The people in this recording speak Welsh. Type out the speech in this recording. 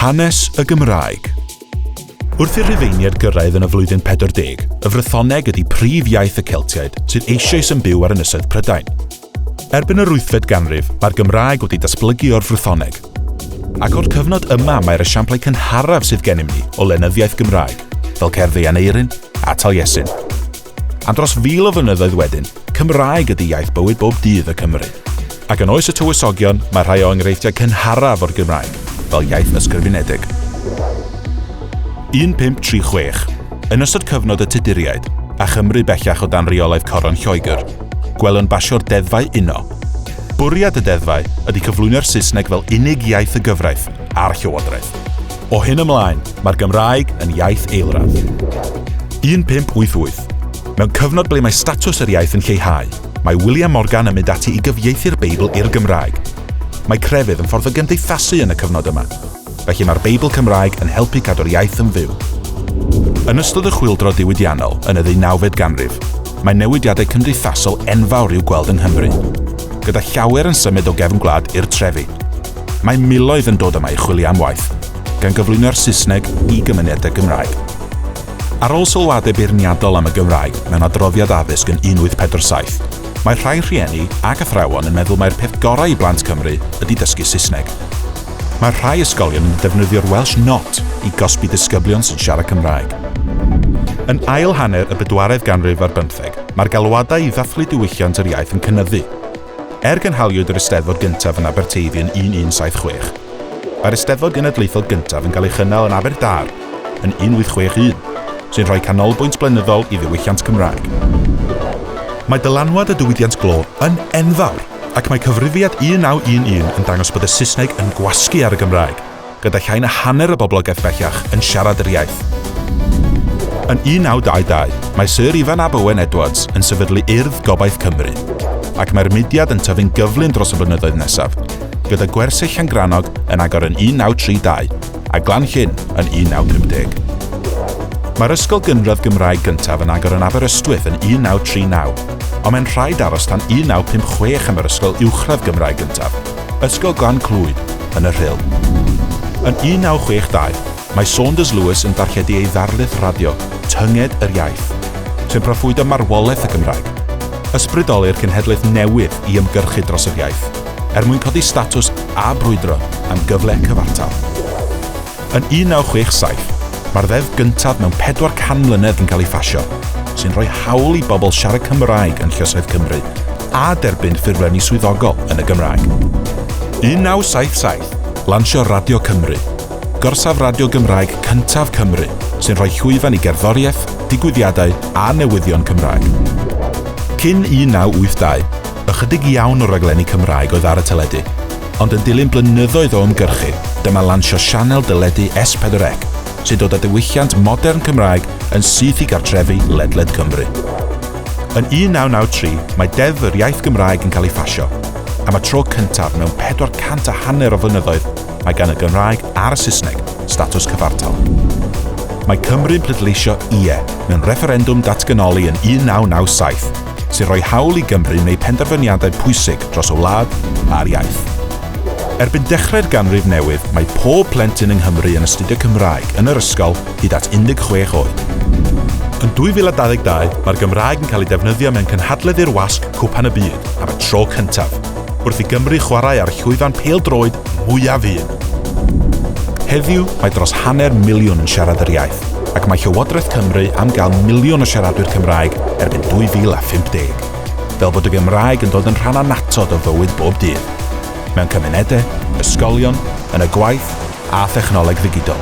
Hanes y Gymraeg. Wrth i'r Rhufeiniaid gyrraedd yn y flwyddyn 40, y Frythoneg ydy prif iaith y Celtiaid sydd eisoes yn byw ar ynysoedd Prydain. Erbyn yr wythfed ganrif, mae'r Gymraeg wedi datblygu o'r Frythoneg. Ac o'r cyfnod yma mae'r esiamplau cynharaf sydd gennym ni o lenyddiaeth Gymraeg, fel cerdd ei Aneirin a Taliesin. Am dros fil o flynyddoedd wedyn, Cymraeg ydy iaith bywyd bob dydd y Cymry. Ac yn oes y tywysogion, mae rhai o enghreifftiau cynharaf o'r Gymraeg fel iaith ysgrifenedig. 1536. Yn ystod cyfnod y Tuduriaid, a Chymru bellach o dan reolaeth Coron Lloegr, gwelwn basio'r deddfau uno. Bwriad y deddfau ydy cyflwyno'r Saesneg fel unig iaith y gyfraith a'r llywodraeth. O hyn ymlaen, mae'r Gymraeg yn iaith eilradd. 1588. Mewn cyfnod ble mae statws yr iaith yn lleihau, mae William Morgan yn mynd ati i gyfieithu'r Beibl i'r Gymraeg. Mae crefydd yn ffordd o gymdeithasu yn y cyfnod yma. Felly mae'r Beibl Cymraeg yn helpu cadw'r iaith yn fyw. Yn ystod y Chwyldro Diwydiannol yn y ddeunawfed ganrif, mae newidiadau cymdeithasol enfawr i'w gweld yng Nghymru, gyda llawer yn symud o gefn gwlad i'r trefi. Mae miloedd yn dod yma i chwilio am waith, gan gyflwyno'r Saesneg i gymunedau Gymraeg. Ar ôl sylwadau beirniadol am y Gymraeg mewn adroddiad addysg yn 1847, mae rhai rhieni ac athrawon yn meddwl mai'r peth gorau i blant Cymru ydy dysgu Saesneg. Mae rhai ysgolion yn defnyddio'r Welsh Not i gosbi disgyblion sy'n siarad Cymraeg. Yn ail hanner y bedwaredd ganrif ar bymtheg, mae'r galwadau i ddathlu diwylliant yr iaith yn cynyddu. Er gynhaliwyd yr Eisteddfod gyntaf yn Aberteifi yn 1176, mae'r Eisteddfod Genedlaethol gyntaf yn cael ei chynnal yn Aberdâr yn 1861, sy'n rhoi canolbwynt blynyddol i ddiwylliant Cymraeg. Mae dylanwad y diwydiant glo yn enfawr, ac mae Cyfrifiad 1911 yn dangos bod y Saesneg yn gwasgu ar y Gymraeg. gyda llai na hanner y boblogaeth bellach yn siarad yr iaith. Yn 1922, mae Syr Ifan ab Owen Edwards yn sefydlu Urdd Gobaith Cymru, ac mae'r mudiad yn tyfu'n gyflym dros y blynyddoedd nesaf, gyda gwersyll Llangrannog yn agor yn 1932 a Glan Llyn yn 1950. Mae'r ysgol gynradd Gymraeg gyntaf yn agor yn Aberystwyth yn 1939, ond mae'n rhaid aros tan 1956 am yr ysgol uwchradd Gymraeg gyntaf, Ysgol Glan Clwyd, yn y Rhyl. Yn 1962, mae Saunders Lewis yn darlledu ei ddarlith radio, Tynged yr Iaith, sy'n proffwydo marwolaeth y Gymraeg. Ysbrydoli'r cenhedlaeth newydd i ymgyrchu dros yr iaith, er mwyn codi statws a brwydro am gyfle cyfartal. Yn 1967, mae'r ddeddf gyntaf mewn 400 mlynedd yn cael ei phasio, sy'n rhoi hawl i bobl siarad Cymraeg yn llysoedd Cymru a derbyn ffurflenni swyddogol yn y Gymraeg. 1977, lansio Radio Cymru, gorsaf radio Gymraeg cyntaf Cymru, sy'n rhoi llwyfan i gerddoriaeth, digwyddiadau a newyddion Cymraeg. Cyn 1982, ychydig iawn o raglenni Cymraeg oedd ar y teledu. ond yn dilyn blynyddoedd o ymgyrchu, dyma lansio sianel deledu S4C, sy'n dod â diwylliant modern Cymraeg yn syth i gartrefi ledled Cymru. Yn 1993, mae Deddf yr Iaith Gymraeg yn cael ei phasio. Am y tro cyntaf mewn pedwar cant a hanner o flynyddoedd, mae gan y Gymraeg a'r y Saesneg statws cyfartal. Mae Cymru'n pleidleisio 'Ie' mewn refferendwm datganoli yn 1997. sy'n rhoi hawl i Gymru wneud penderfyniadau pwysig dros y wlad a'r iaith. Erbyn dechrau'r ganrif newydd, mae pob plentyn yng Nghymru yn astudio Cymraeg yn yr ysgol hyd at 16 oed. Yn 2022, mae'r Gymraeg yn cael ei defnyddio mewn cynhadledd i'r wasg Cwpan y Byd am y tro cyntaf. wrth i Gymru chwarae â'r llwyfan pêl-droed mwyaf un. Heddiw, mae dros hanner miliwn yn siarad yr iaith, ac mae Llywodraeth Cymru am gael miliwn o siaradwyr Cymraeg erbyn 2050, fel bod y Gymraeg yn dod yn rhan annatod o fywyd bob dydd, mewn cymunedau, ysgolion, yn y gwaith a thechnoleg ddigidol.